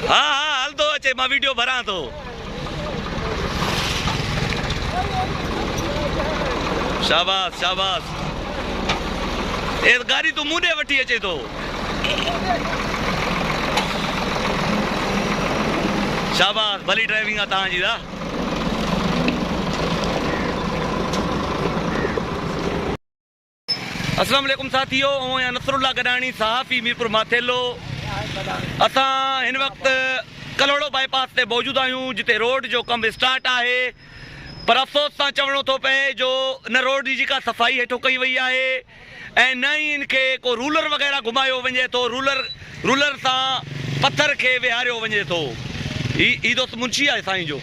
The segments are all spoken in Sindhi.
ها ها هلندو اچي مان ويڊيو ڀران ٿو شاباس شاباس اي گاڏي تون مون ڏي وٺي اچي ٿو شاباس ڀلي ڊرائيونگ آ تان جي دا اسلام عليڪم ساٿيو اوهين آهيان نصر الله گڏاڻي صحافي ميرپور ماٿيلو اسان هن وقت ڪلهوڙو بائي پاس تي موجود آهيون جتي روڊ جو ڪم اسٽارٽ آهي پر افسوس سان چوڻو ٿو پئي جو ان روڊ جي جيڪا صفائي هيٺون ڪئي وئي آهي ۽ نه ئي ان کي ڪو رولر وغيره گهمايو وڃي ٿو رولر رولر سان پٿر کي ويهاريو وڃي ٿو هي هي دوست منشي آهي سائين جو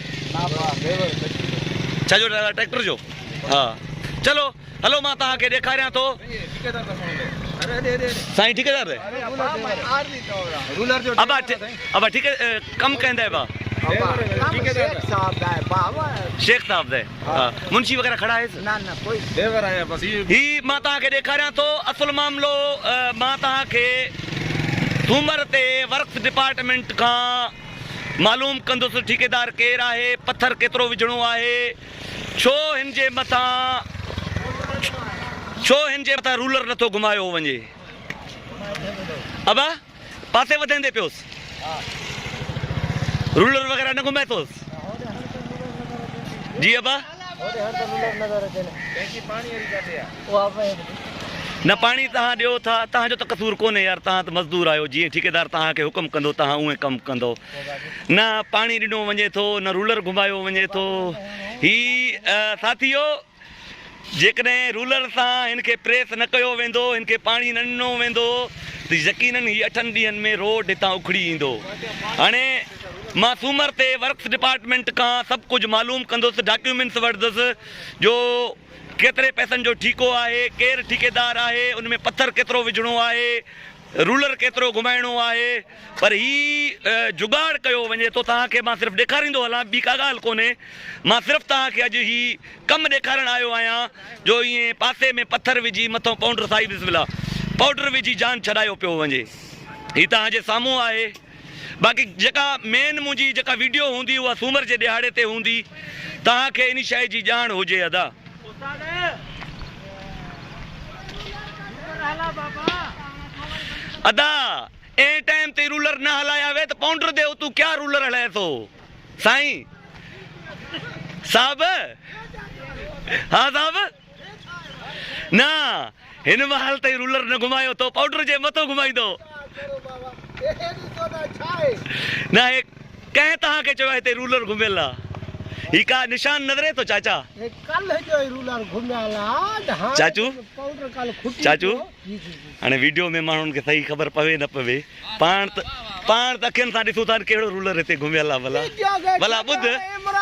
ڇا جو ڊرائيور ٽريڪٽر جو ها چلو هلو مان توهان کي ڏيکاريان ٿو. سائين ٺيڪيدار ري. ابا ابا ٺيڪي ڪم ڪنهن دي ابا. شيخ صاحب دي منشي وغيره کڙا هيس. نه نه ڪوئي ديور آيا بس. هي مان توهان کي ڏيکاريان ٿو اصل معاملو مان توهان کي ٿومر تي ورڪس ڊپارٽمينٽ کان معلوم ڪندس ٺيڪيدار ڪير آهي پٿر ڪيترو وجهڻو آهي. ڇو هن جي مٿان ڇو هن جي مٿان رولر نٿو گهمايو وڃي. ابا پاسي وڌندي پيوس رولر وغيره نه گهمائي ٿوس جي ابا نه پاڻي تهان ڏيو ٿا تهان جو ته قصور ڪونهي يار تهان ته مزدور آهيو جيئن ٺيڪيدار تهان کي حڪم ڪندو تهان اوئين ڪم ڪندو نه پاڻي ڏنو وڃي ٿو نه رولر گهمايو وڃي ٿو هي ساٿيو جيڪڏهن رولر سان هن کي پريس نه ڪيو ويندو هن کي پاڻي نه ڏنو ويندو ته يقينن هي اٺن ڏينهن ۾ روڊ هتان اکڙي ايندو هاڻي مان سومر تي ورڪس ڊپارٽمنٽ کان سڀ ڪجهه معلوم ڪندس ڊاڪيومينس وٺندس جو ڪيتري پئسن جو ٺيڪو آهي ڪير ٺيڪيدار آهي ان ۾ پٿر ڪيترو وجهڻو آهي رولر ڪيترو گهمائڻو آهي پر هي جگاڙ ڪيو وڃي ٿو توهان کي مان صرف ڏيکاريندو هلان ٻي ڪا ڳالهه ڪونهي مان صرف توهان کي اڄ هي ڪم ڏيکارڻ آيو آهيان جو ائين پاسي ۾ پٿر وجهي مٿو پونڊر سائي بسم الله پوڊر وجهي جان ڇڏايو پيو وڃي هي توهان جي سامهون آهي باقي جيڪا مين منهنجي جيڪا ويڊيو هوندي اها سومر جي ڏهاڙي تي هوندي توهان کي ان شئي جي ڄاڻ هجي ادا. ادا. اين ٽائيم تي رولر نه هلايا وي ته پونڊر دي اتون ڪيا رولر هلائي ٿو سائين صاحب ها صاحب نه هن محل تائين رولر نه گهمايو تو پونڊر جي مٿو گهمائيندو نه هي ڪنهن تهان کي چوي هتي رولر گهميل آ هي ڪا نشان نظري ٿو چاچا هي ڪل جو رولر گهميل آ چاچو چاچو هاڻي ويڊيو ۾ ماڻهن کي صحيح خبر پوي نه پوي پاڻ ته پاڻ ته اکين سان ڏسون ٿا ته ڪهڙو رولر هتي گهميل آهي ڀلا ڀلا ٻڌ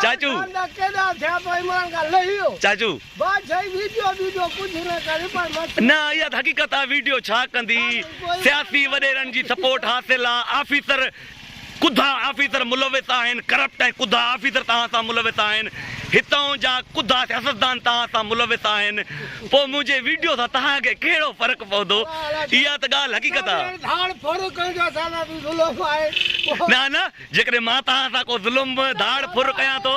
چاچو چاچو نه اها ته حقيقت آهي ويڊيو ڇا ڪندي سياسي وڏيرن جي سپورٽ حاصل آهي آفيسر ڪڌا آفيسر ملوث آهن، ڪرپٽ ۽ ڪڌا آفيسر توهان سان ملوث آهن، هتان جا ڪڌا سياستدان توهان سان ملوث آهن، پوء منهنجي ويڊيو سان توهان کي ڪهڙو فرق پوندو؟ اها ته ڳالهه حقيقت آ. نه نه جيڪڏهن مان توهان سان ڪو ظلم ڌاڙ ڦر ڪيان ٿو،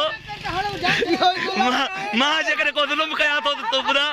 مان جيڪڏهن ڪو ظلم ڪيان ٿو ته تون ٻڌاء.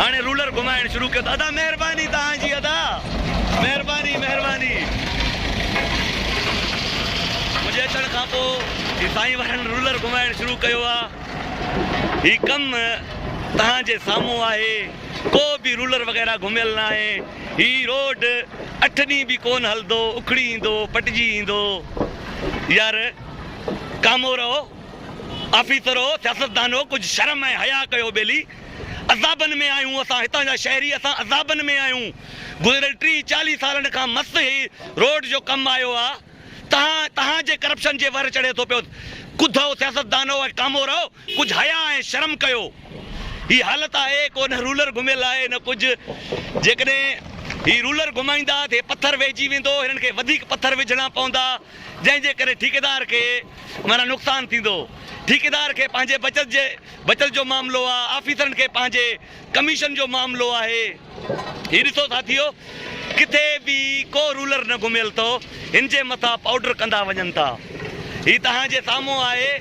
هاڻي رولر گهمائڻ شروع ڪيو ته ادا مهرباني توهان جي ادا مهرباني مهرباني منهنجي اچڻ کان پو هي سائين وارن رولر گهمائڻ شروع ڪيو آ هي ڪم توهان جي سامهون آهي ڪو به رولر وغيره گهميل نه آهي هي روڊ اٺ ڏينهن به ڪون هلدو اکڙي ايندو پٽجي ايندو يار ڪامورو آفيسرو سياستدانو ڪجهه شرم ۽ حيا ڪيو ٻيلي عذابن ۾ آهيون اسان هتان جا شهري اسان عذابن ۾ آهيون گذريل ٽيهه چاليهه سالن کان مس هي روڊ جو ڪم آيو آ تهان تهان جي ڪرپشن جي ور چڙهي ٿو پيو ڪڌو سياستدانو ۽ ڪامورو ڪجهه حيا ۽ شرم ڪيو هي حالت آهي ڪو نه رولر گهميل آهي نه ڪجهه جيڪڏهن هي رولر گهمائيندا ته هي پٿر ويهجي ويندو هنن کي وڌيڪ پٿر وجهڻا پوندا جنهن جي ڪري ٺيڪيدار کي معنيٰ نقصان ٿيندو ٺيڪيدار کي پنهنجي بچت جي بچت جو معاملو آ، آفيسرن کي پنهنجي ڪميشن جو معاملو آهي. هي ڏسو ساٿيو، ڪٿي به ڪو رولر نه گهميل ٿو، هن جي مٿان پائوڊر ڪندا وڃن ٿا. هي توهان جي سامهون آهي.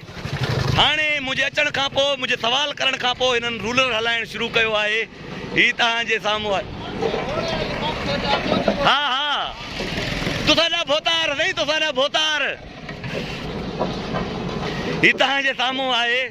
هاڻي منهنجي اچڻ کان پوء، منهنجي سوال ڪرڻ کان پوء هنن رولر هلائڻ شروع ڪيو آهي. هي توهان جي سامهون آهي. ها ها، توسان جا ڀوتار سائين، توسان جا ڀوتار. هي توهان جي سامهون آهي.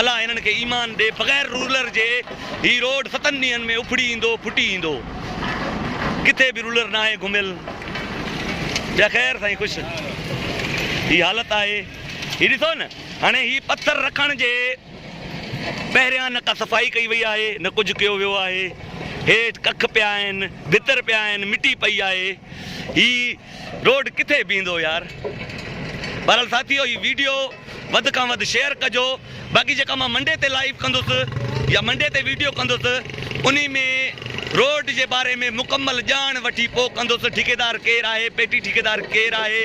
الا هنن کي ايمان ڏي بغير رولر جي هي روڊ ستن ڏينهن ۾ اکڙي ايندو ڦٽي ايندو ڪٿي به رولر ناهي گهميل ٻيا خير سائين خوش هي حالت آهي هي ڏسو نه هاڻي هي پٿر رکڻ جي پهريان نه ڪا صفائي ڪئي وئي آهي نه ڪجهه ڪيو ويو آهي هيٺ ڪک پيا آهن ڀتر پيا آهن مٽي پئي آهي هي روڊ ڪٿي بيهندو يار. بهرحال ساٿيو هي ويڊيو وڌ کان وڌ شيئر ڪجو باقي جيڪا مان منڊي تي لائيو ڪندس يا منڊي تي ويڊيو ڪندس انهي ۾ روڊ جي باري ۾ مڪمل ڄاڻ وٺي پو ڪندس ٺيڪيدار ڪير آهي پيٽي ٺيڪيدار ڪير آهي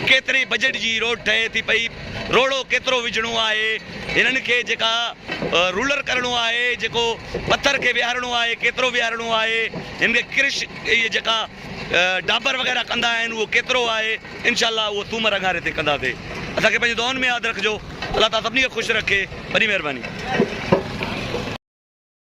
ڪيتري بجيٽ جي روڊ ٺهي ٿي پئي روڙو ڪيترو وجهڻو آهي هنن کي جيڪا رولر ڪرڻو آهي جيڪو پٿر کي ويهارڻو آهي ڪيترو ويهارڻو آهي هن کي ڪرش جيڪا ڊابر وغيره ڪندا آهن اهو ڪيترو آهي انشاء الله اهو سومر اڱاري تي ڪنداسي اسان کي پنهنجي دعائن ۾ ياد رکجو الله تعالي سڀني کي خوش رکي وڏي مهرباني.